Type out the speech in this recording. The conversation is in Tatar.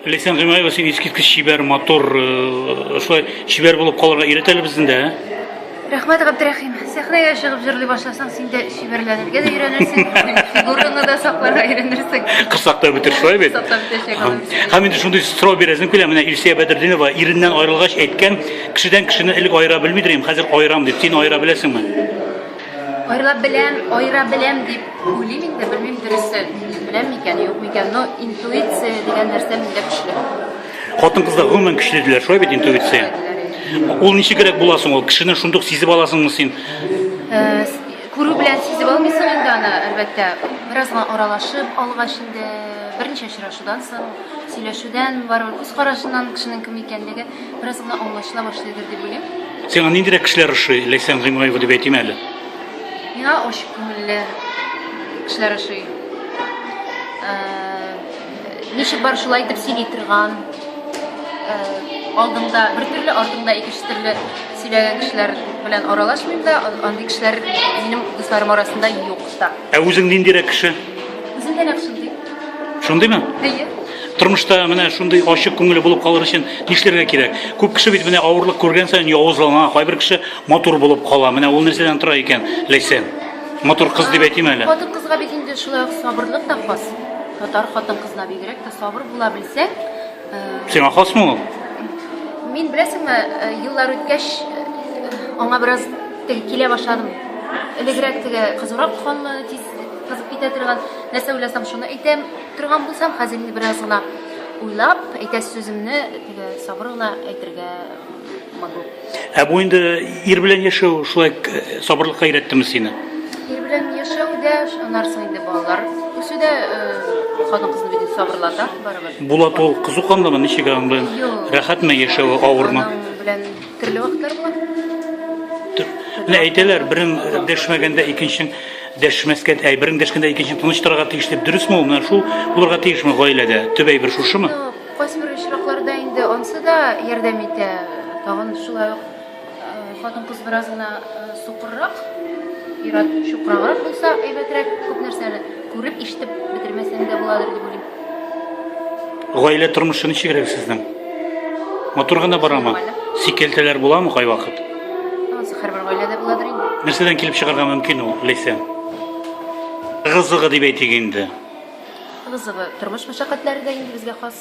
Ләйсән Гыймаева, син искиткеч чибәр, матур, э, шулай чибәр булып калырга өйрәтәләр безне дә. Рәхмәт, Габдрәхим. Сәхнәгә чыгып җырлый башласаң, син дә чибәрләнергә дә өйрәнерсең, фигураңны да сакларга өйрәнерсең. Кысак та бетер, шулай бит? Кысак та бетәчәк, алар өчен. Һәм инде шундый сорау бирәсем килә, менә Илсия Бәдердинова иреннән аерылгач әйткән, кешедән кешене элек аера белмидер идем, хәзер аерам дип. Син аера беләсеңме? Айрылап беләм, айыра беләм дип уйлыйм инде, белмим дөресе, беләм микән, юк микән, но интуиция дигән нәрсә миндә көчле. Хатын-кызлар гомумән көчле диләр, шулай бит интуиция. Ул ничегрәк була соң ул? Кешене шундук сизеп аласыңмы син? Э, күрү белән сизеп алмыйсың инде аны, әлбәттә. Бераз гына аралашып алгач инде, берничә очрашудан соң, сөйләшүдән, барыбер күз карашыннан кешенең кем икәнлеге Бераз гына аңлашыла башлыйдыр дип уйлыйм. Сиңа ниндирәк кешеләр ошый? Ләйсән Гыймаева дип әйтим әле. Миңа ачык күңелле кешеләр ошый. Э, ничек бар шулай итеп сөйли торган, э, алдымда бер төрле, артымда икенче төрле сөйләгән кешеләр белән аралашмыйм да, андый кешеләр минем дусларым арасында юк та. Ә үзең ниндирәк кеше? Үзем дә нәкъ шундый. Шундыймы? Әйе. Тормышта менә шундый ачык күңелле булып калыр өчен нишләргә кирәк? Күп кеше бит менә авырлык күргән саен явызлана, кайбер кеше матур булып кала. Менә ул нәрсәдән тора икән, Ләйсән? Матур кыз дип әйтим әле. Хатын кызга бит инде шулай ук сабырлык та хас. Татар хатын кызына бигрәк тә сабыр була белсәң, э, Сиңа хасмы ул? мин беләсеңме, э, еллар үткәч э, аңа бераз Тел килә башладым. Элегрәк теге кызурак ханны тиз кызып китә торган. Нәрсә уйласам, шуны әйтәм торган булсам, хәзер инде бераз гына уйлап, әйтәс сүземне теге сабыр гына әйтергә могу. Ә бу инде ир белән яшәү шулай э, сабырлыкка өйрәттеме сине? Ир белән яшәү дә, аннарсы инде балалар үсү дә э, хатын кызны бит сабырлата барыбер. Булат ул кызу канлымы, ничек аның белән? Юк. Рәхәтме яшәве, авырмы? Аның белән Төрле вакытлар була. Менә әйтәләр, берең дәшмәгәндә икенчең дәшмәскә, әй, берең дәшкәндә икенчең тыныч торырга тиеш дип, дөресме ул? Менә шул булырга тиешме гаиләдә? Төп әйбер шушымы? Кайсы бер очракларда инде ансы да ярдәм итә. Тагын шулай ук хатын-кыз бераз гына сукыррак, ират чукраграк булса әйбәтрәк, күп нәрсәне күреп, ишетеп бетермәсәң дә буладыр дип Гаилә тормышы ничегрәк сезнең? Матур гына барамы? Сикелтәләр буламы кайвакыт? Һәрбер гаиләдә буладыр инде. Нәрсәдән килеп чыгарга мөмкин ул, Ләйсә? Гызыгы дип әйтик инде. Гызыгы тормыш мәшәкатьләре дә инде безгә хас.